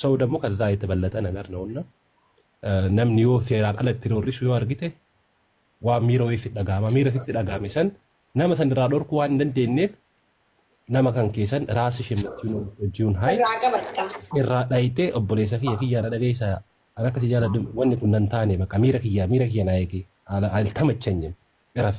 Saud ammoo kazaa yetabalata nagar nowna namni yoo seeraan ala itti roorrisu yoo argite waan miira wayii sitti dhaga'ama miira sitti dhaga'ame san nama san irraa dhorkuu waan hin dandeenyeef nama kan keessan raasi shemmachuun hojjiun haay irraa qabatta. irraa dhayitee obboleessa kiyya kiyyaa na dhageessa an akka si jaaladhu wanni kun nan taane bakka miira kiyyaa miira kiyya naa eegi haala haal tamachanyin iraf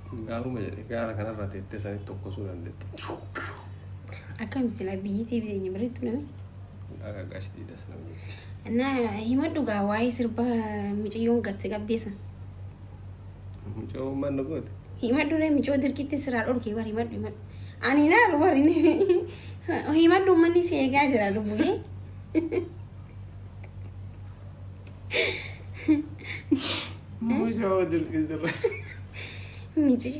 Gaaruma jedhe gaara kanarra teettee sanitti tokkosuu dandeetti. Akkam sila biyyi tee biteenya bareedduu dha miti. Akka qashtii das nama jetti. Na himadhu gaa waa'ee sirba miciyyoon gasse qabdee san. Mucoo maal na goote? Himadhu ree micoo dirqitti siraa dhorkee bar himadhu himadhu. Ani naaru bar himadhu ummanni si eegaa jira lubbuyee. Miji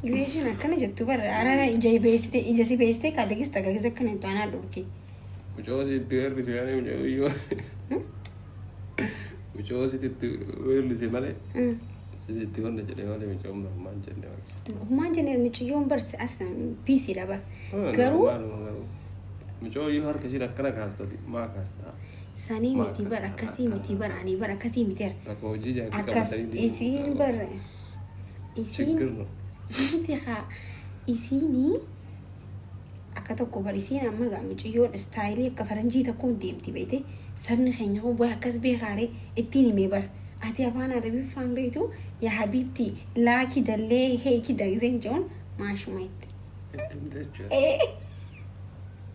gisee isheen akkana jettu bara arana ija beeksite ija si beeksite kaate gis taga gis akkana jettu anaa dhorki. Mucoo sitti weerrise malee mucoo yoo. Mucoo sitti weerrise malee. Sitti honna jedhe malee mucoo maal jenne malee. Humaan jenne miciyyoon barsi as na biisiidha bara. Garuu Mucoo yoo harka ishiin akkana kaastati maa kaastaa. Sanii Maa miti akkas bar kana akkasii akkan miti bar ani bar akkasii miti bar bakka hojii jaartii akkas qabatanii deemuun isiin garuu bar isiin chiggir no. miti haa isiinii akka tokko bar isiin amma gaa mucayyoon istaayilii akka faranjii tokkoon deemti beete sabni keenya hoo waa akkas beekaaree ittiin himee bar ati afaan arabiffaan beektu yaa habiibti laaki dallee heeki dagzeen joon maashuma itti Itti himte jechuudha.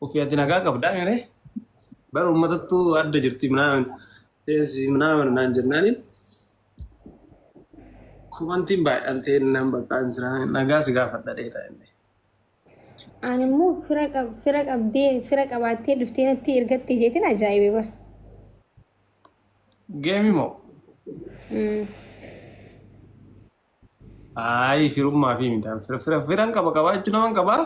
Ufi ati nagaa qabdaa mere bara uummatattu adda jirti minaamin seensi minaamin naan jennaaniin kumantiin baay'een ta'e naan baqqaan jira nagaa si gaafadha dheeta inni. Ani immoo fira qab fira qabdee fira qabaattee dhuftee natti ergattee isheetiin ajaa'ibe bara. Geemi moo Mm. Ayi firummaa fi miidhaan fira fira firan qaba qabaachuu naman qaba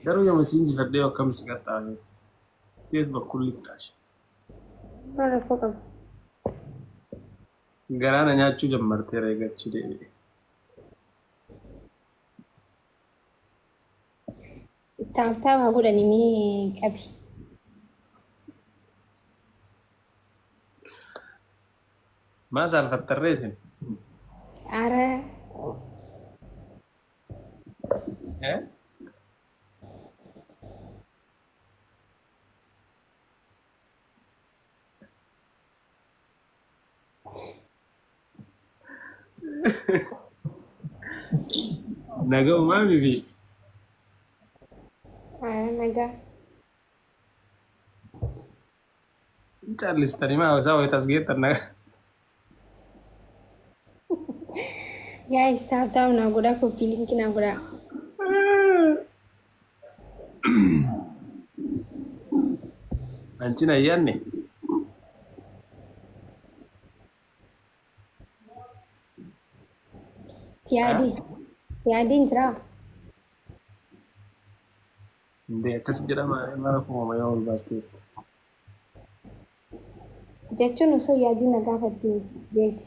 garuu yooma si injifadhee akkam si qaxxaame feet bakkul lixxaashi Maal rakkoo qaba? garaa na nyaachuu jammartee reegachi deebi'e. Taabtaaba haa godhani mee qabi. Maa saalfattarree isin? Ara Eh? Naga umaa bibi. Haa nagaa. Callistanii maa isaa wayita as geettan naga. Yaa isaaf ta'u naa godhaa koppii linkii naa godhaa. Anchi na yaanne. Siyaadiin. Siyaadiin jiraa? Indee akkas jedhama mara kuuma yoo ol baasteetti. Jechuun osoo yaadii na gaafatte jeeti.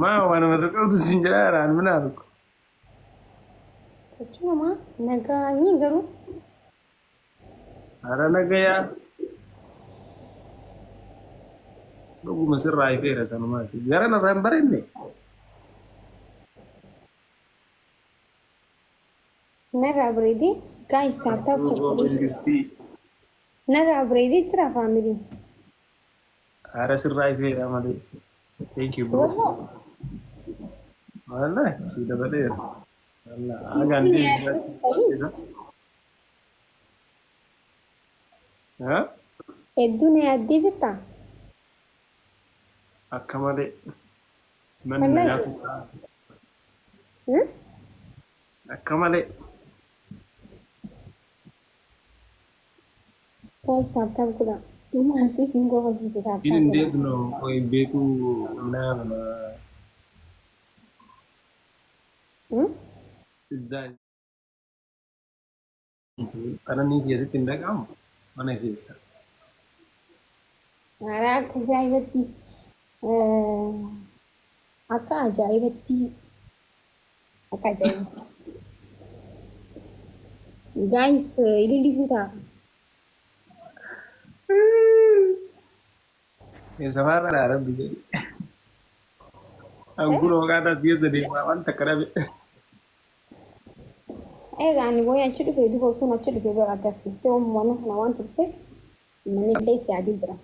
Maa waanuma tokko qabdu siin jedhaa raan minaa tokko. Hojii namaa nagaa ni garuu Hara nagayaa. Dhuguma sirraa ifeera sanumaati. Gara narraa hin bareenne. narraa bareedee gaayis taaptaaf Akkuma ta'u. Mangistii. Narraa bareedee jira faamiliin. Ara sirraa ifeera malee. Thank you bro. Wallah. Wallah si dabaleera. Wallah hagaan deebisaa. Haa? Hedduu na yaaddee jirta. Akka malee. Manni Wallahi. nagaa tokko. Hmm? Akka malee. Guys tap tap godhaa. Dhuma irratti isin kofalchiise tap tap godhaa. Hin deebno qoy beetuu naama. Izzaa ituu qananii kee sitti hin dhaga'amu mana keessa. Mara akka ajaa'ibatti akka ajaa'ibatti Akka ajaa'iba. Guys, ililli fuutaa. Eessamaa irraa rabbi jedhi. Ankuun hooqaataa si keessa deemaa waan takka dhabe. Egaa ani booyee achi dhufe duuba utuun achi dhufe bara akkas dhuftee uummanni kana waan turte manni illee si adii jira.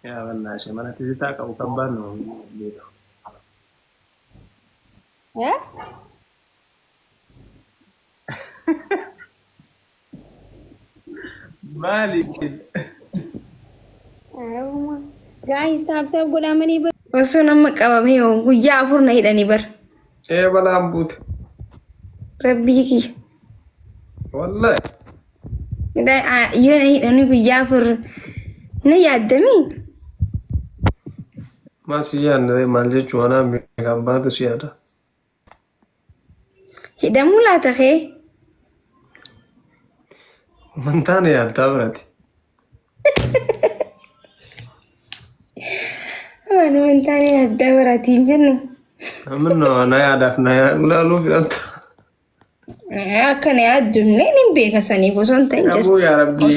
Yaa wallaa shamarratti sitaa qabu kan baannu beetu. Eh? Maali isheen? Arabuma. Guys, taap taap godhaa malee bar. Osoo nama qabamee hoo guyyaa afur na hidhanii bar. Ee balaan buute. Rabbii kiyya. Wallahi. Yoo na hidhanii guyyaa afur na yaaddamii? Maal si yaadne maal jechuu anaa beekaa abbaatu si yaada. Hidhamuu laata kee? Wantaa na yaaddaa birati. Waan wantaa na yaaddaa birati hin jenne. Amma na yaadaaf na yaaduu laaluu fidhamta. Akka na yaaddullee nin beeka saniif osoo hin ta'in Namuu just yaa rabbii.